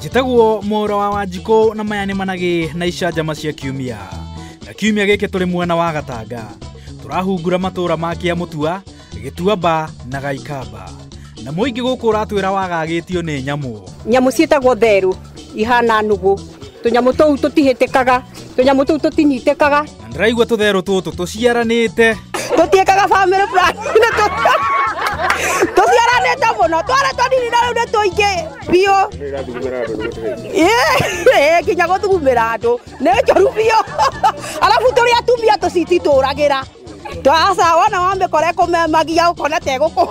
njĩtagwo mũra wa wanjikũ na maya nĩ managĩ na icanjama cia kiumia na kiumia gĩkĩ tũrĩ mwena wa gatanga tũrahungura matũra ma kĩa mũtua gĩtuamba na gaikamba na mũingĩ gũkũ ũratwĩra wagagĩtio nĩ nyamũ nyamũ ciĩtagwo therũ ihana nũgũ tũnyamũ tũu tũtihĩtĩkaga tũnyamũ tũu tũtinyitĩkaga Na ndĩraigua tũtherũ tũtũ tũciaranĩte. tutiekaga family plan na tu tuciaranite muno twara twanini na riu ni tuingi biu Ĩĩ, nginya guthugumira andu ni njoru biu arabu turi atumia tucitituragira twaca wona wamikora kumemagia ukona teguku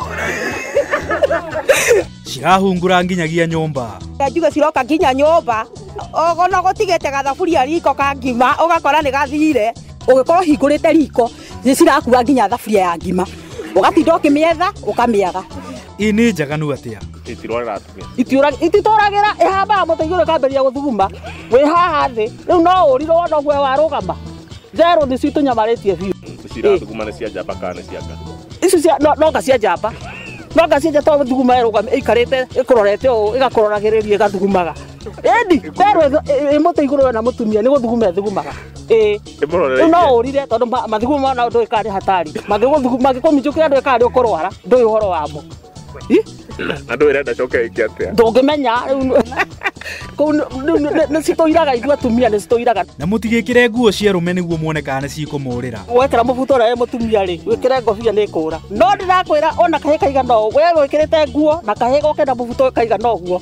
Cirahungura nginyagia nyũmba. njuge ciroka nginya nyumba ogo no gutigite gathaburia riko ka ngima ugakora ni gathire ugikorwo hingurite riko ni cirakua nginya thaburia ya ngima ugatinda ukimietha ukamiaga ii nĩ njaganu atĩa itirorera atumia Itiũra- ititũragĩra ĩhambaga mũtĩ igũrũ ĩkambĩrĩria gũthuguma wĩ haha thĩ rĩu no ũrirwo wona guoya warũgama therũ nĩ citũ nyamarĩtie biũ cirathuguma nĩ cia njamba kana nĩ cia nga icio cia no- no nga cia njamba no nga cia njamba tondũ thuguma ĩrũgame ĩikarĩte ĩkũrorete ũũ ĩgakũroragĩrĩria ĩgathugumaga Ĩndi werwo ĩmũtĩ igũrũ we na mũtumia nĩ gũthuguma ĩthugumaga. Ĩĩ. Rĩu no ũrire tondũ ma- mathugumo ma nao ndũĩ karĩ hatari. Mangĩgũthugu- Mangĩkũminjũkĩra ndũĩ karĩ ũkũrwara. Ndũĩ ũhoro wamo. Ih, na ndå ä renda coke ä ke atä a Ndũngĩmenya rĩu nĩ- kũu nĩ- nĩ- nĩ- nĩ citũiraga ithuĩ atumia nĩ citũiraga. na mũtigĩkĩre nguo cia rũme nĩguo muone kana nĩ cikũmũrĩra Wekĩra mũbuto ũrĩa wĩ mũtumia rĩ, wĩkĩre ngobia nĩ kũra. No ndĩrakwĩra ona kahĩ kaigana ũũ, we wĩkĩrĩte nguo na kahĩ goke na mũbuto kaigana ũguo.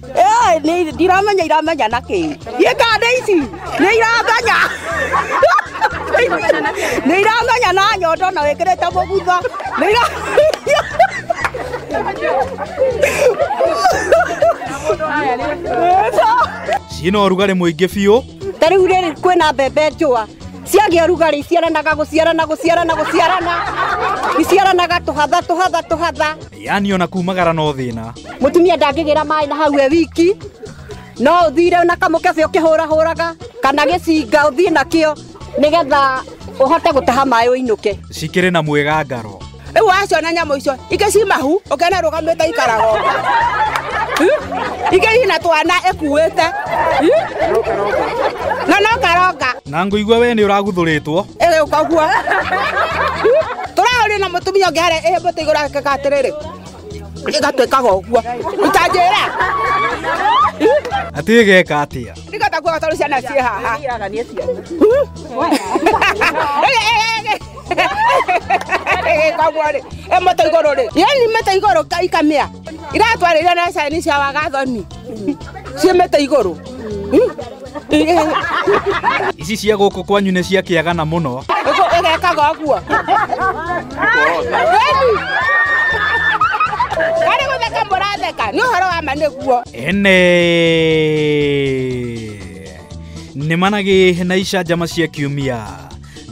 Ĩĩ, nĩ- ndiramenya iramenya na kĩĩ niĩ ngandĩ ici nĩ iramenya nĩ iramenya na nyondo na wĩkĩrĩte mũgutha nĩ ira ciĩna ũrugarĩ mũingĩ biũ ta rĩu rĩrĩ kwĩna mbembe njũa ciagĩa rugarĩ iciaranaga gũciarana gũciarana gũciarana iciaranaga tũhatha tũhatha tũhatha yani ona kumagara no thina mutumia ndangĩgĩra maĩ na hau e wiki no ũthire na kamũkebe ũkĩhũrahũraga kana gĩcinga ũthiĩ nakĩo nĩgetha ũhote gũtaha maĩ ũinũke cikĩrĩ na mwĩgangaro rĩu waciona nyamũ icio ingĩ ci mahu ũkena rũgamĩte ikarago ingĩ ina twana ĩkuĩte na no karonga Na ngũigua we nĩ ũraguthũrĩtwo. Ĩrĩ ũkagua. Tũraũrio na mũtumia ũngĩ harĩa ĩhĩ mbũtũ igũrũ akĩka atĩrĩrĩ. Ĩgatuĩkaga ũguo. Ũtanjĩra. Atĩ ĩgeka atĩa? Nĩgetha kuoga tondũ ciana ciĩ haha. Ĩgĩkagwo-rĩ, ĩ mbũtũ igũrũ-rĩ. Yaani mbũtũ igũrũ ka- ikamĩa. Iratwarĩria na cani cia wagathoni. Ciĩ mbũtũ igũrũ. ici cia gå kå kwanyu nä cia kä agana må no ĩgekaga ũguo arĩ gũtheka mũratheka nĩ ũhoro wa ma nĩguo ene nä managä na icanjama cia kiumia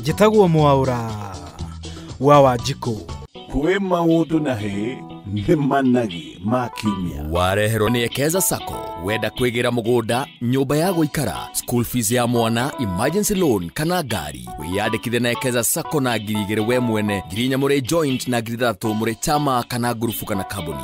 njätagwo mwaåra wa wanjikå kwĩ maũndũ na hĩ nĩ managi ma kiumia wareherwo nĩ ekeza sacco wenda kwĩgĩra mũgũnda nyũmba ya gũikara school fees ya mwana emergency loan kana ngari wĩyandĩkithe na ekeza sacco na ngiri igĩrĩ we mwene ngiri inya mũrĩ joint na ngiri ithathatũ mũrĩ chama kana ngurubu kana kambuni